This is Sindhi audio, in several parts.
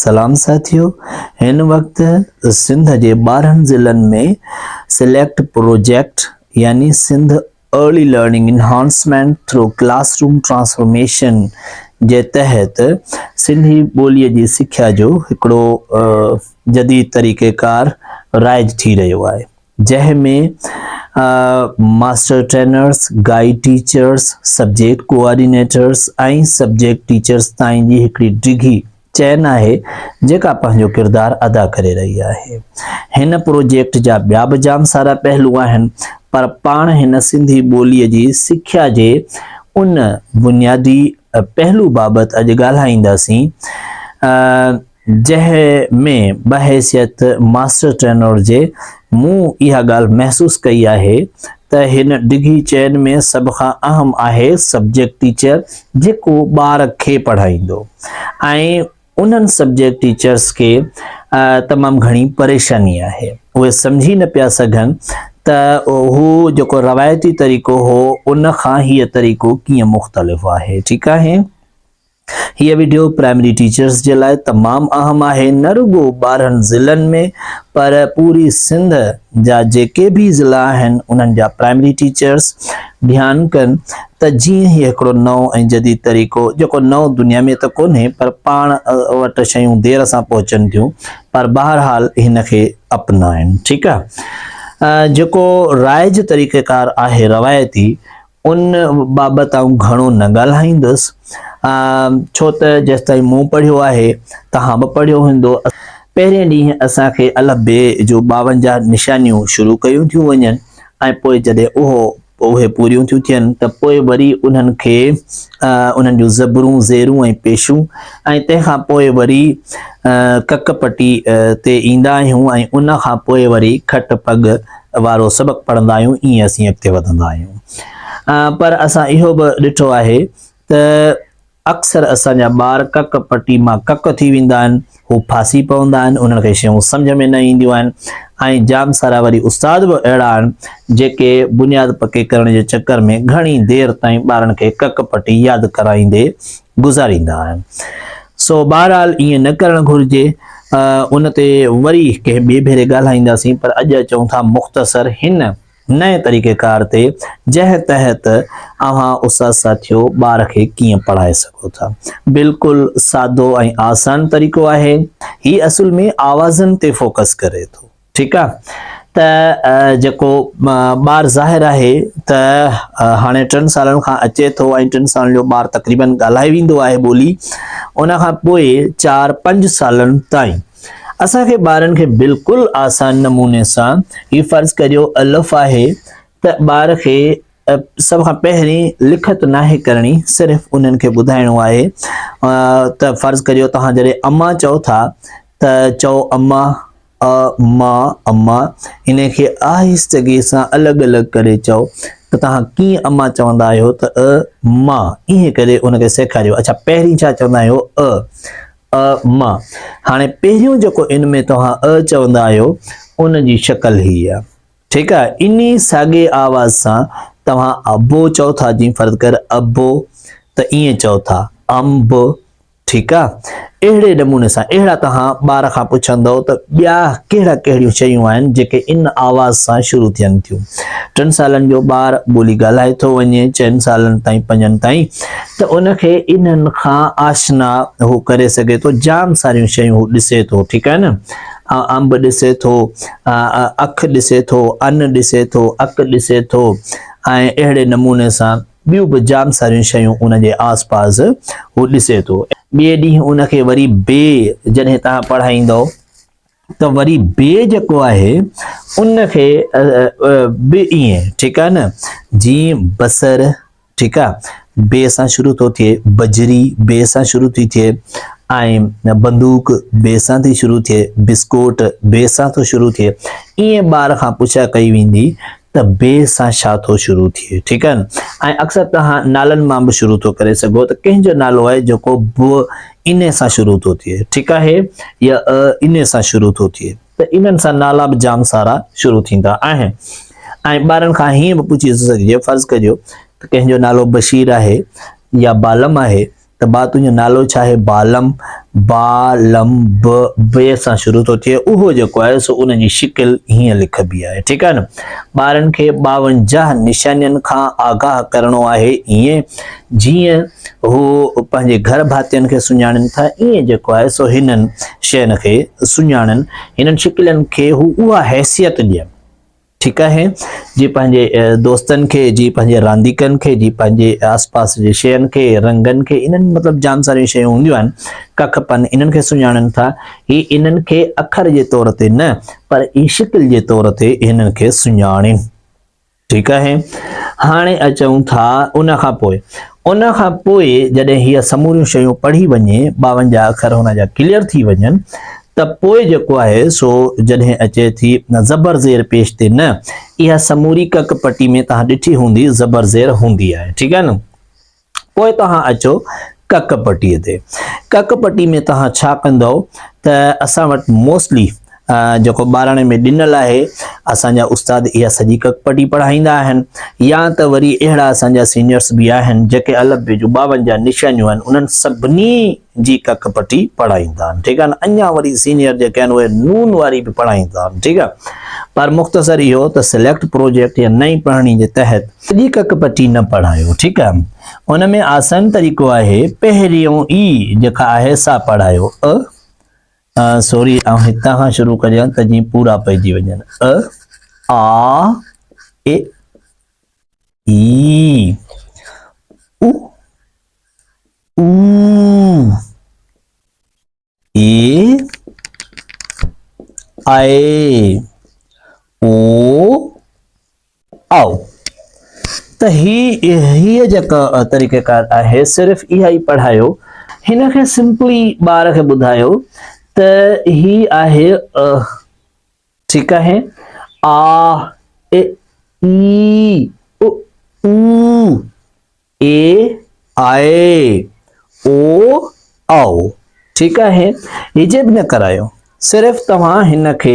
سلام ساٿيو هن وقت سنڌ جي ٻارهن ضلعن ۾ سليڪٽ پروجيڪٽ يعني Sindh early learning enhancement through classroom transformation جي تحت سنڌي ٻولي جي سکيا جو هڪڙو جديد طريقيڪار رائج ٿي رهيو آهي. جنهن ۾ master trainers, guide teachers, subject coordinators ۽ subject teachers تائين جي هڪڙي ڊگهي چين آهي جيڪا پنهنجو ڪردار ادا ڪري رهي آهي. هن پروجيڪٽ جا ٻيا به جام سارا پهلو آهن پر پاڻ هن سنڌي ٻوليء جي سکيا جي ان بنيادي پهلو بابت اڄ ڳالهائينداسين. جنهن ۾ بحيثيت ماسٽر ٽرينر جي مون اها ڳالهه محسوس ڪئي آهي ته هن ڊگهي چين ۾ سڀ کان اهم آهي سبجيڪٽ ٽيچر جيڪو ٻار کي پڙهائيندو ۽ انهن سبجيڪٽ ٽيچرس کي تمام گهڻي پريشاني آهي اهي سمجهي نه پيا سگهن ته هو جيڪو روايتي طريقو هو ان کان هيء طريقو ڪيئن مختلف آهي ٺيڪ آهي هيء وڊيو پرائمري ٽيچرز جي لاء تمام اهم آهي نه رڳو ٻارهن ضلعن ۾ پر پوري سنڌ جا جيڪي به ضلع آهن انهن جا پرائمري ٽيچرز ڌيان ڪن ته جيئن هي هڪڙو نئون ۽ جديد طريقو جيڪو نئون دنيا ۾ ته ڪونهي پر پاڻ وٽ شيون دير سان پهچن ٿيون پر بهرحال هن کي اپنائن ٺيڪ آهي جيڪو رائج طريقيڪار آهي روايتي ان بابت آئون گهڻو نه ڳالهائيندس، ڇو ته جيستائين مون پڙهيو آهي، توهان به پڙهيو هوندو. پهرين ڏينهن اسان کي الف بي جون ٻاونجاهه نشانيون شروع ڪيون ٿيون وڃن ۽ پوء جڏهن اهو اهي پوريون ٿيون ٿين ته پوء وري انهن کي انهن جون زبرون، زيرون ۽ پيشون ۽ تنهن کان پوء وري ڪڪ پٽي تي ايندا آهيون ۽ ان کان پوء وري کٽ پڳ وارو سبق پڙهندا آهيون ائين اسين اڳتي وڌندا آهيون پر اسان اهو به ڏٺو آهي ته اڪثر اسان جا ٻار ڪڪ پٽي مان ڪڪ ٿي ويندا آهن هو ڦاسي پوندا آهن انهن کي شيون سمجھ ۾ نه اينديون آهن ۽ جام سارا وري استاد به اهڙا آهن جيڪي بنياد پڪي ڪرڻ جي چڪر ۾ گھڻي دير تائين ٻارن کي ڪڪ پٽي ياد ڪرائيندي گذاريندا آهن سو بهرحال ائين نه ڪرڻ گهرجي ان تي وري ڪنهن ٻئي ڀيري ڳالهائينداسين پر اڄ اچون ٿا مختصر هن نئين طريقه ڪار تي جنهن تحت اوهان استاد ساٿيو ٻار کي ڪيئن پڙهائي سگهو ٿا بلڪل سادو ۽ آسان طريقو آهي هي اصل ۾ آوازن تي فوڪس ڪري ٿو ٺيڪ آ ته جيڪو ٻار ظاهر آهي ته هاڻي ٽن سالن کان اچي ٿو ۽ ٽن سالن جو ٻار تقريبا ڳالهائي ويندو آهي ٻولي ان کان پوء چار پنج سالن تائين اسان کي ٻارن کي بلڪل آسان نموني سان هي فرض ڪريو الف آهي ته ٻار کي سڀ کان پهرين لکت ناهي ڪرڻي صرف انهن کي ٻڌائڻو آهي ته فرض ڪريو توهان جڏهن اما چئو ٿا ته چئو اما آء، ما، اما، انهي کي آهستگيء سان الڳ الڳ ڪري چئو ته توهان ڪيئن اما چوندا آهيو ته آء، ما، ائين ڪري ان کي سيکاريو اڇا پهرين ڇا چوندا آهيو آء، آء، ما، هاڻي پهريون جيڪو ان ۾ توهان آء چوندا آهيو ان جي شڪل هي آهي ٺيڪ آهي انهي ساڳي آواز سان توهان ابو چئو ٿا جي فرض ڪر ابو ته ائين چئو ٿا ام ب. ٺيڪ آ اهڙي نموني سان اهڙا توهان ٻار کان پڇندؤ ته ٻيا ڪهڙا ڪهڙيون شيون آهن جيڪي ان آواز سان شروع ٿين ٿيون ٽن سالن جو ٻار ٻولي ڳالهائي ٿو وڃي چئن سالن تائين پنجن تائين ته ان کي انهن کان آشنا هو ڪري سگهي ٿو جام ساريون شيون هو ڏسي ٿو ٺيڪ آهي نه انب ڏسي ٿو اک ڏسي ٿو ان ڏسي ٿو اک ڏسي ٿو ۽ اهڙي نموني سان ٻيون به جام ساريون شيون ان جي آس پاس هو ڏسي ٿو. ٻئي ڏينهن ان کي وري بي جڏهن توهان پڙهائيندؤ ته وري بي جيڪو آهي ان کي به ائين ٺيڪ آهي نه جي بصر ٺيڪ آهي بي سان شروع ٿو ٿئي بجري بي سان شروع ٿي ٿئي ۽ بندوق بي سان ٿي شروع ٿئي بسڪوٽ بي سان ٿو شروع ٿئي ائين ٻار کان پڇا ڪئي ويندي ته ب سان شا ٿو شروع ٿئي ٺيڪ آهي نه ۽ اڪثر توهان نالن مان به شروع ٿو ڪري سگهو ته ڪنهن جو نالو آهي جيڪو ب ان سان شروع ٿو ٿئي ٺيڪ آهي يا ا ان سان شروع ٿو ٿئي ته انهن سان نالا به جام سارا شروع ٿيندا آهن ۽ ٻارن کان هيئن به پڇي ٿو سگهجي فرض ڪجو ته ڪنهن جو نالو بشير آهي يا بالم آهي ته با تنهنجو نالو ڇا آهي؟ بالم، با، لم، ب، ب سان شروع ٿو ٿئي اهو جيڪو آهي سو ان جي شڪل هيئن لکبي آهي ٺيڪ آهي نه ٻارن کي ٻاونجاهه نشانين کان آگاهه ڪرڻو آهي ايئن جيئن هو پنهنجي گهر ڀاتين کي سڃاڻين ٿا ايئن جيڪو آهي سو هنن شين کي سڃاڻن هنن شڪلين کي هو اها حيثيت ڏين ٺيڪ آهي جي پنهنجي دوستن کي جي پنهنجي رانديڪن کي جي پنهنجي آس پاس جي شين کي رنگن کي انهن مطلب جام ساريون شيون هونديون آهن ڪک پن انهن کي سڃاڻن ٿا هي انهن کي اکر جي طور تي نه پر هي شڪل جي طور تي انهن کي سڃاڻين ٺيڪ آهي هاڻي اچون ٿا ان کان پوء ان کان پوء جڏهن هي سموريون شيون پڙهي وڃي ٻاونجاهه اکر هن جا ڪليئر ٿي وڃن ته پوء جيڪو آهي سو جڏهن اچي ٿي زبر زير پيش تي نه اها سموري ڪڪ پٽي ۾ توهان ڏٺي هوندي زبر زير هوندي آهي ٺيڪ آهي نه پوء توهان اچو ڪڪ پٽي تي ڪڪ پٽي ۾ توهان ڇا ڪندو ته اسان وٽ موسٽلي جيڪو ٻاراڻي ۾ ڏنل آهي اسان جا استاد اها سڄي ڪڪ پٽي پڙهائيندا آهن يا ته وري اهڙا اسان جا سينيئرس به آهن جيڪي الف بي جون ٻاونجاهه نشانيون آهن انهن سڀني جي ڪک پٽي پڙهائيندا آهن ٺيڪ آهي نه اڃا وري سينيئر جيڪي آهن اهي نون واري به پڙهائيندا آهن ٺيڪ آهي پر مختصر اهو ته سليڪٽ پروجيڪٽ يا نئين پڙهڻي جي تحت سڄي ڪک پٽي نه پڙهايو ٺيڪ آهي ان ۾ آسان طريقو آهي پهريون ئي جيڪا آهي سا پڙهايو ا سوري آئون هتان کان شروع ڪريان ته جيئن پورا پئجي وڃن ا آ اي اي او اي آئي او آؤ ته هي هي جيڪا طريقه ڪار آهي صرف اها ئي پڙهايو هن کي سمپلي ٻار کي ٻڌايو ته هي آهي ٺيڪ آهي آ اي اي او او اي آء او آء ٺيڪ آهي هجي به نه ڪرايو صرف توهان هن کي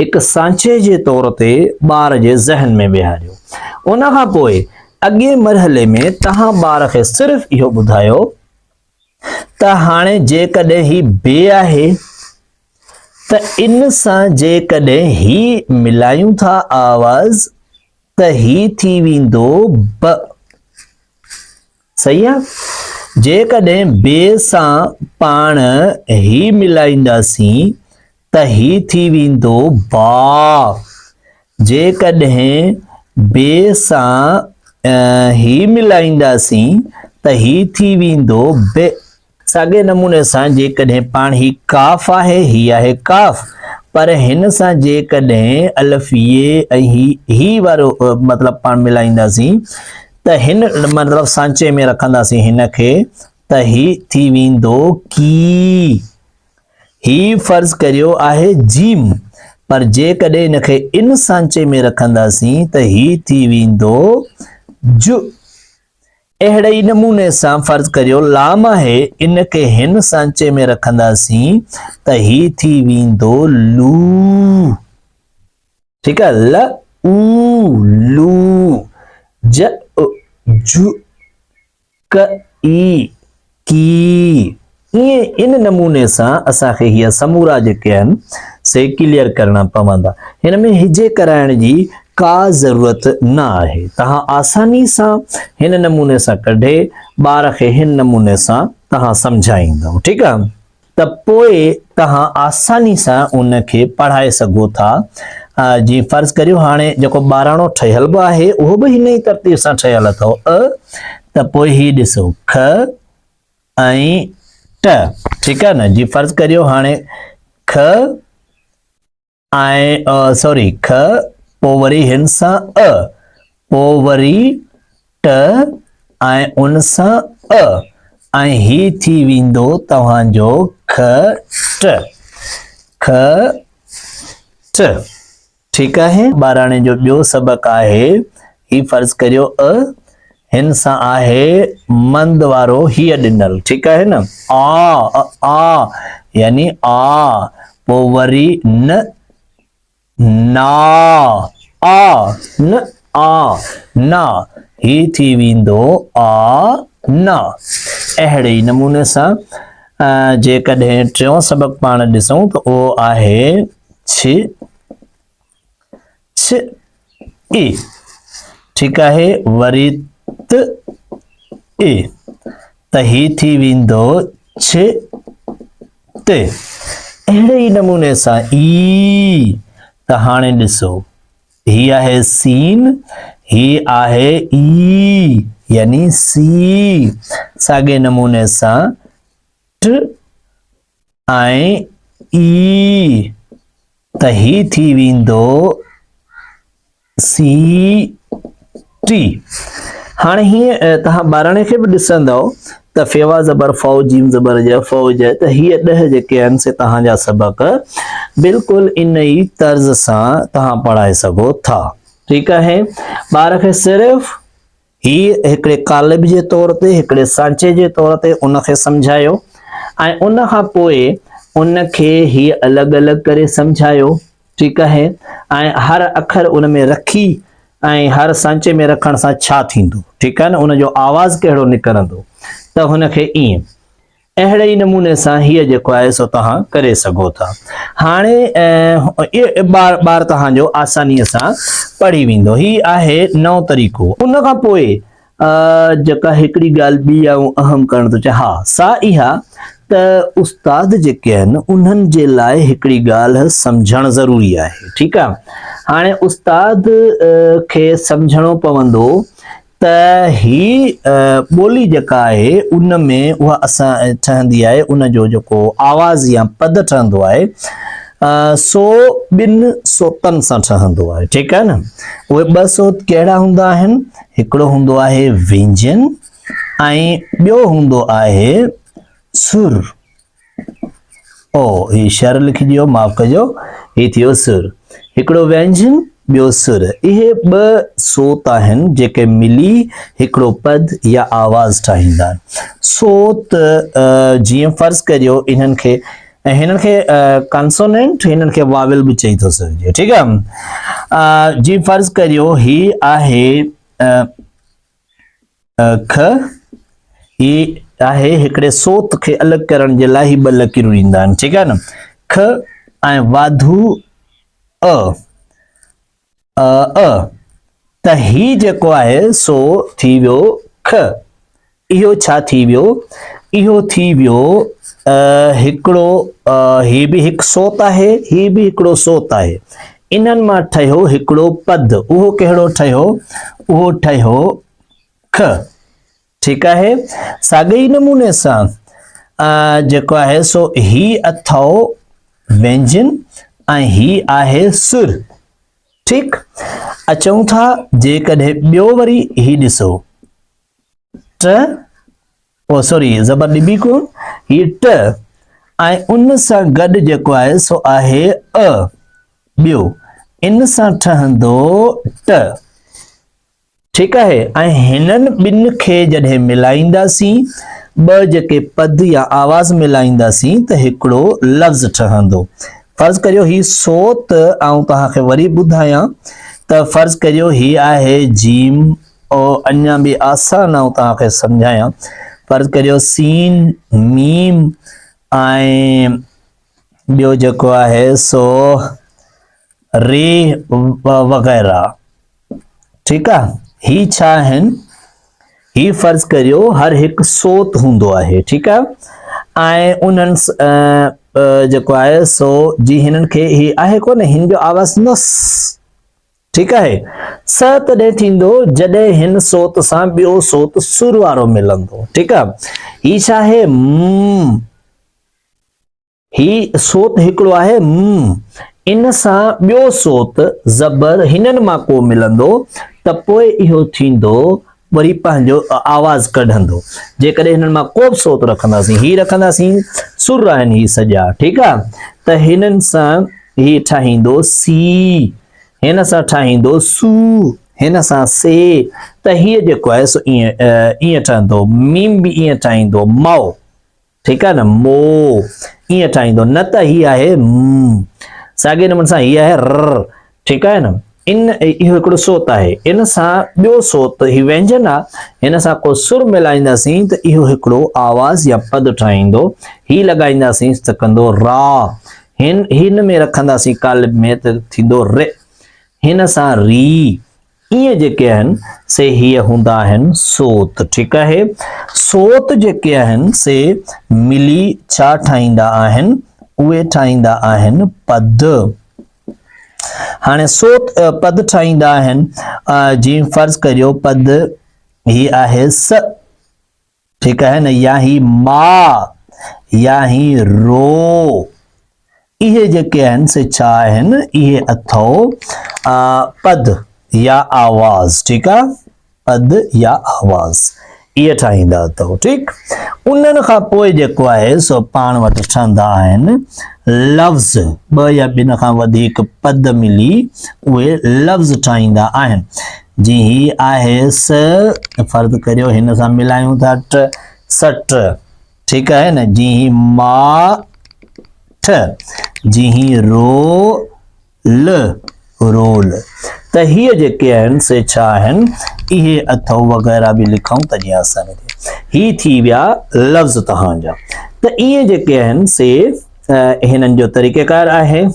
هڪ سانچي جي طور تي ٻار جي ذهن ۾ ويهاريو ان کان پوء اڳئين مرحلي ۾ توهان ٻار کي صرف اهو ٻڌايو ته هاڻي جيڪڏهن هي بي آهي ته ان سان جيڪڏهن هي ملايون ٿا آواز ته هي ٿي ويندو ب صحيح آ جيڪڏهن بي سان پاڻ هي ملائينداسين ته هي ٿي ويندو با. جيڪڏهن بي سان هي ملائينداسين ته هي ٿي ويندو بئ. ساڳئي نموني سان جيڪڏهن پاڻ هي قاف آهي، هي آهي قاف، پر هن سان جيڪڏهن الف يي ۽ هي هي وارو مطلب پاڻ ملائينداسين ته هن مطلب سانچي ۾ رکنداسين هن کي ته هي ٿي ويندو ڪي. هي فرض ڪريو آهي ج، پر جيڪڏهن ان کي ان سانچي ۾ رکنداسين ته هي ٿي ويندو ج. اهڙي ئي نموني سان فرض ڪريو لام آهي، ان کي هن سانچي ۾ رکنداسين ته هي ٿي ويندو لو. ٺيڪ آهي ل، او، لو، ج، ا، ج. ڪئي، ڪي، ائين ان نموني سان اسان کي هي سمورا جيڪي آهن سي ڪليئر ڪرڻا پوندا. هن ۾ هجي ڪرائڻ جي ڪا ضرورت نه آهي. توهان آساني سان هن نموني سان ڪڍي ٻار کي هن نموني سان توهان سمجهائيندؤ. ٺيڪ آ. ته پوء توهان آساني سان ان کي پڙهائي سگهو ٿا. جيئن فرض ڪريو هاڻي جيڪو ٻاراڻو ٺهيل به آهي اهو به هن ئي ترتيب سان ٺهيل اٿئو ء ته پوء هي ڏسو خ ۽ ٽ ٺيڪ آهي نه جي فرض ڪريو هاڻي خ ۽ ء سوري خ پو وري هن سان ء پو وري ٽ ۽ ان سان ء ۽ هي ٿي ويندو توهان جو خ ٽ خ ٽ ٺيڪ آهي. ٻاراڻي جو ٻيو سبق آهي هي فرض ڪريو ء هن سان آهي مند وارو هيء ڏنل ٺيڪ آهي نه آ ء آ يعني آ پو وري ن نا آ ن آ نا هي ٿي ويندو آ نا اهڙي ئي نموني سان جيڪڏهن ٽيون سبق پاڻ ڏسون ته اهو آهي ڇ چھ اي ٺيڪ آھي وري ت اي ته ھي ٿي ويندو چھ ت اھڙي ئي نموني سان اي ته ھاڻي ڏسو ھي آھي سين ھي آھي اي يعني سي ساڳئي نموني سان ٽ ۽ اي ته هي ٿي ويندو سي ٽي هاڻي هي توهان ٻارڻي کي به ڏسندو ته فيوا زبر فو جيم زبر جي فو جي ته هي ڏه جيڪي آهن سي توهان جا سبق بلڪل ان ئي طرز سان توهان پڙهائي سگهو ٿا ٺيڪ آهي ٻار کي صرف هي هڪڙي قالب جي طور تي، هڪڙي سانچي جي طور تي ان کي سمجهايو ۽ ان کان پوء ان کي هي الڳ الڳ ڪري سمجهايو، ٺيڪ آهي، ۽ هر اکر ان ۾ رکي ۽ هر سانچي ۾ رکڻ سان ڇا ٿيندو، ٺيڪ آهي نه، ان جو آواز ڪهڙو نڪرندو، ته هن کي ائين. اهڙي ئي نموني سان هيء جيڪو آهي سو توهان ڪري سگهو ٿا. هاڻي ٻار ٻار توهان جو آسانيء سان پڙهي ويندو. هي آهي نئون طريقو. ان کان پوء جيڪا هڪڙي ڳالهه ٻي آئون اهم ڪرڻ ٿو چاهيان، اها سا اها ته استاد جيڪي آهن، انهن جي لاء هڪڙي ڳالهه سمجهڻ ضروري آهي. ٺيڪ آهي. هاڻي استاد کي سمجهڻو پوندو ته هي ٻولي جيڪا آهي ان ۾ اها اسان ٺهندي آهي ان جو جيڪو آواز يا پد ٺهندو آهي سو ٻن صوتن سان ٺهندو آهي ٺيڪ آهي نه اهي ٻه صوت ڪهڙا هوندا آهن هڪڙو هوندو آهي وينجن ۽ ٻيو هوندو آهي سر او، هي شر لکجي ويو معاف ڪجو. هي ٿي ويو سر. هڪڙو وينجن ٻيو سر. اهي ٻه صوت آهن جيڪي ملي هڪڙو پد يا آواز ٺاهيندا آهن. صوت جيئن فرض ڪريو انهن کي هنن کي ڪنسونينٽ هنن کي واويل به چئي ٿو سگهجي ٺيڪ آهي جي فرض ڪريو هي آهي کھ، هي آهي هڪڙي صوت کي الڳ ڪرڻ جي لاء هي ٻه لڪيرون ڏيندا آهن ٺيڪ آهي نه کھ ۽ واڌو ا ا ا ته هي جيڪو آهي سو ٿي ويو کھ اهو ڇا ٿي ويو اهو ٿي ويو هڪڙو هي به هڪ صوت آهي هي به هڪڙو صوت آهي انهن مان ٺهيو هڪڙو پد، اهو ڪهڙو ٺهيو؟ اهو ٺهيو خ، ٺيڪ آهي. ساڳئي ئي نموني سان جيڪو آهي سو هي اٿئو وينجن ۽ هي آهي سر، ٺيڪ. اچون ٿا جيڪڏهن ٻيو وري هي ڏسو، ٽ، او سوري زبر ڏبي ڪون هي ٽ ۽ ان سان گڏ جيڪو آهي سو آهي ا ٻيو ان سان ٺهندو ٽ ٺيڪ آهي ۽ هنن ٻن کي جڏهن ملائينداسين ٻه جيڪي پد يا آواز ملائينداسين ته هڪڙو لفظ ٺهندو فرض ڪريو هي سو ته آئون توهان کي وري ٻڌايان ته فرض ڪريو هي آهي جيم او اڃا به آسان آئون توهان کي سمجھايان فرض ڪريو سين ميم ۽ ٻيو جيڪو آهي سو ري وغيرہ ٺيڪ آ هي ڇا آهن هي فرض ڪريو هر هڪ صوت هوندو آهي ٺيڪ آ ۽ انهن جيڪو آهي سو جي هنن کي هي آهي ڪو نه هن جو آواز نس ٺيڪ آهي. سه تڏهن ٿيندو جڏهن هن صوت سان ٻيو صوت سر وارو ملندو. ٺيڪ آ. هي ڇا آهي؟ م. هي صوت هڪڙو آهي م. ان سان ٻيو صوت، زبر، هنن مان ڪو ملندو ته پوء اهو ٿيندو وري پنهنجو آواز ڪڍندو. جيڪڏهن هنن مان ڪو به صوت رکنداسين، هي رکنداسين، سر آهن هي سڄا. ٺيڪ آ. ته هنن سان هي ٺاهيندو سي. هن سان ٺاهيندو سو، هن سان سي، ته هيء جيڪو آهي سو ائين ٺهندو. ميم به ائين ٺاهيندو، مئو، ٺيڪ آهي نه، مو، ائين ٺاهيندو، نه ته هي آهي م. ساڳئي نموني سان هي آهي ر، ٺيڪ آهي نه، ان اهو هڪڙو صوت آهي، ان سان ٻيو صوت هي وينجن آ، هن سان ڪو سر ملائينداسين ته اهو هڪڙو آواز يا پد ٺاهيندو، هي لڳائينداسين ته ڪندو را، هن، هن ۾ رکنداسين قالب ۾ ته ٿيندو رئ. هن سان ري، ايئن جيڪي آهن سي هيء هوندا آهن سوت، ٺيڪ آهي. سوت جيڪي آهن سي ملي ڇا ٺاهيندا آهن؟ اهي ٺاهيندا آهن پد. هاڻي سوت پد ٺاهيندا آهن، جيئن فرض ڪريو پد هي آهي س. ٺيڪ آهي نه يا هي ما يا هي رو اهي جيڪي آهن سي ڇا آهن اهي اٿئو پد يا آواز ٺيڪ آ پد يا آواز اهي ٺاهيندا اٿئو ٺيڪ انهن کان پوء جيڪو آهي سو پاڻ وٽ ٺهندا آهن لفظ ٻه يا ٻن کان وڌيڪ پد ملي اهي لفظ ٺاهيندا آهن جي هي آهي س فرض ڪريو هن سان ملايون ٿا ٽ س ٽ ٺيڪ آهي نه جي هي ما ٺ جي هي رو ل رول ته هي جيڪي آهن سي ڇا آهن اهي اٿو وغيرا به لکون ته جي آساني ٿئي هي ٿي ويا لفظ تهان جا ته اهي جيڪي آهن سي هنن جو طريقه ڪار آهي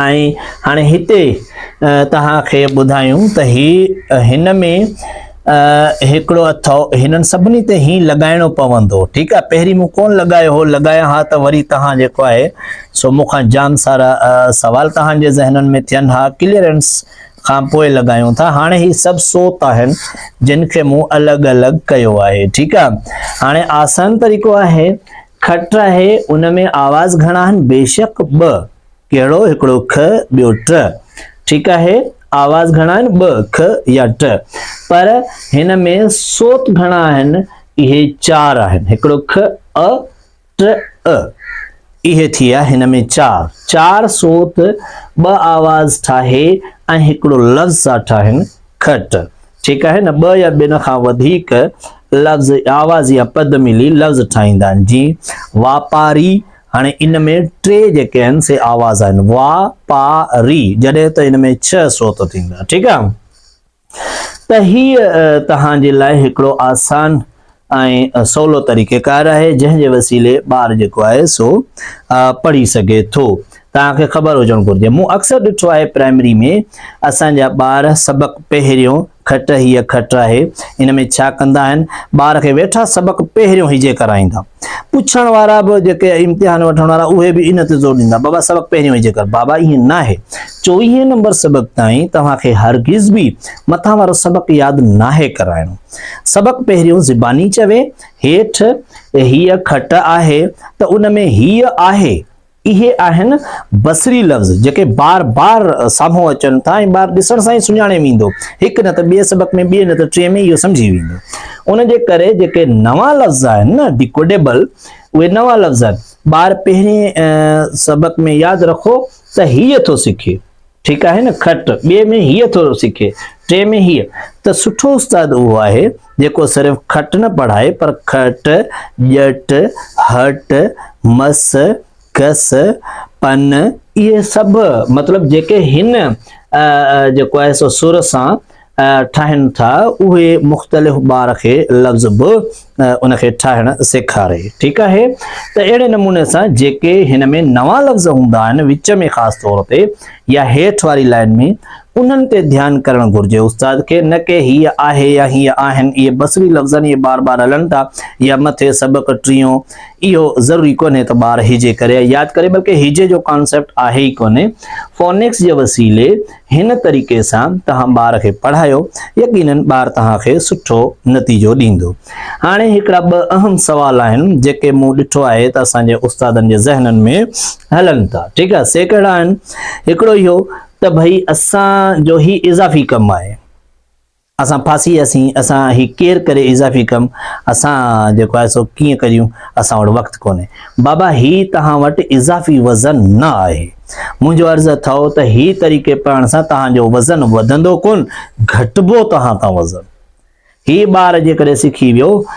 ۽ هاڻي هتي توهان کي ٻڌايون ته هي هن ۾ هڪڙو اٿو هنن سڀني تي هي لڳائڻو پوندو ٺيڪ آهي پهرين مون ڪون لڳايو هو لڳايان ها ته وري توهان جيڪو آهي سو مون کان جام سارا سوال توهان جي ذهنن ۾ ٿين ها ڪليئرنس کان پوء لڳايون ٿا هاڻي هي سڀ سوت آهن جن کي مون الڳ الڳ ڪيو آهي ٺيڪ آهي هاڻي آسان طريقو آهي کٽ آهي ان ۾ آواز گهڻا آهن بيشڪ ٻه ڪهڙو هڪڙو که ٻيو ٽه ٺيڪ آهي آواز گهڻا آهن ٻه که يا ٽه پر هن ۾ صوت گهڻا آهن اهي چار آهن هڪڙو که ا ٽه ا اهي ٿي ويا هن ۾ چار چار صوت ٻه آواز ٺاهي ۽ هڪڙو لفظ ٿا ٺاهن کٽ، ٺيڪ آهي نه، ٻه يا ٻن کان وڌيڪ لفظ آواز يا پد ملي لفظ ٺاهيندا آهن، جيئن واپاري، هاڻي ان ۾ ٽي جيڪي آهن سي آواز آهن، وا، پا، ري، جڏهن ته ان ۾ ڇهه صوت ٿيندا، ٺيڪ آهي. ته هيء توهان جي لاء هڪڙو آسان ۽ سولو طريقه ڪار آهي جنهن جي وسيلي ٻار جيڪو آهي سو پڙهي سگهي ٿو توهان کي خبر هجڻ گهرجي مون اڪثر ڏٺو آهي پرائمري ۾ اسان جا ٻار سبق پهريون کٽ هي کٽ آهي ان ۾ ڇا ڪندا آهن ٻار کي ويٺا سبق پهريون هجي ڪرائيندا پڇڻ وارا به جيڪي امتحان وٺڻ وارا اهي به ان تي زور ڏيندا بابا سبق پهريون هجي ڪر بابا ائين نه آهي چوويهين نمبر سبق تائين توهان کي هرگز به مٿان وارو سبق ياد ناهي ڪرائڻو سبق پهريون زباني چوي، هيٺ هيء کٽ آهي ته ان ۾ هيء آهي. اهي آهن بصري لفظ جيڪي بار بار سامهون اچن ٿا ۽ ٻار ڏسڻ سان ئي سڃاڻي ويندو. هڪ نه ته ٻئي سبق ۾ ٻئي نه ته ٽئين ۾ اهو سمجهي ويندو. ان جي ڪري جيڪي نوان لفظ آهن نه Decodable اهي نوان لفظ آهن. ٻار پهرين سبق ۾ ياد رکو ته هيء ٿو سکي. ٺيڪ آهي نه کٽ ٻئي ۾ هيء ٿو سکي ٽئين ۾ هيء ته سٺو استاد اهو آهي جيڪو صرف کٽ نه پڙهائي پر کٽ، ڄٽ، هٽ، مس، گس، پن اهي سڀ مطلب جيڪي هن جيڪو آهي سو سر سان ٺاهن ٿا اهي مختلف ٻار کي لفظ به ان کي ٺاهڻ سيکاري ٺيڪ آهي ته اهڙي نموني سان جيڪي هن ۾ نوان لفظ هوندا آهن وچ ۾ خاص طور تي يا هيٺ واري لائن ۾ انهن تي ڌيان ڪرڻ گهرجي استاد کي نه ڪي هي آهي يا هي آهن اهي بصري لفظن اهي بار بار هلن ٿا يا مٿي سبق ٽيون اهو ضروري ڪونهي ته ٻار هجي ڪري ياد ڪري بلڪه هجي جو ڪانسيپٽ آهي ئي ڪونهي فونڪس جي وسيلي هن طريقي سان توهان ٻار کي پڙهايو، يقينن ٻار توهان کي سٺو نتيجو ڏيندو. هاڻي هڪڙا ٻه اهم سوال آهن جيڪي مون ڏٺو آهي ته اسان جي استادن جي ذهنن ۾ هلن ٿا ٺيڪ آهي سي ڪهڙا آهن هڪڙو اهو ته ڀئي اسان جو هي اضافي ڪم آهي. اسان ڦاسي وياسين، اسان هي ڪير ڪري اضافي ڪم، اسان جيڪو آهي سو ڪيئن ڪريون، اسان وٽ وقت ڪونهي. بابا هي توهان وٽ اضافي وزن نه آهي. منهنجو عرض اٿئو ته هي طريقي پڙهڻ سان توهان جو وزن وڌندو ڪونه، گهٽبو توهان تان وزن. هي ٻار جيڪڏهن سکي ويو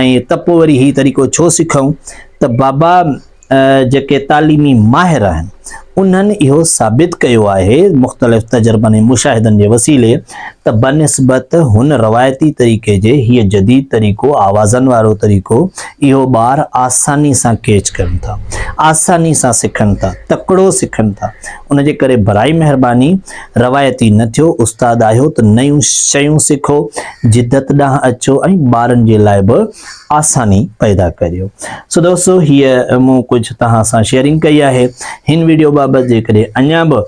۽ ته پوء وري هي طريقو ڇو سکئون ته بابا جيڪي تعليمي ماهر آهن انهن اهو ثابت ڪيو آهي مختلف تجربن ۽ مشاهدن جي وسيلي ته بنسبت هن روائتي طريقي جي هي جديد طريقو آوازن وارو طريقو اهو ٻار آساني سان ڪيچ ڪن ٿا آساني سان سکن ٿا تڪڙو سکن ٿا ان جي ڪري براء مهرباني روايتي نه ٿيو، استاد آهيو ته نيون شيون سکو، جدت ڏانهن اچو ۽ ٻارن جي لاء به آساني پيدا ڪريو. سو دوستو هيء مون ڪجهه توهان سان شيئرنگ ڪئي آهي. هن ويڊيو بابت جيڪڏهن اڃا به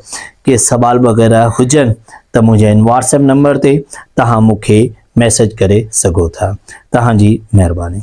ڪي سوال وغيره هجن ته منهنجي هن واٽس ايپ نمبر تي توهان مون کي ميسج ڪري سگهو ٿا. توهان جي مهرباني.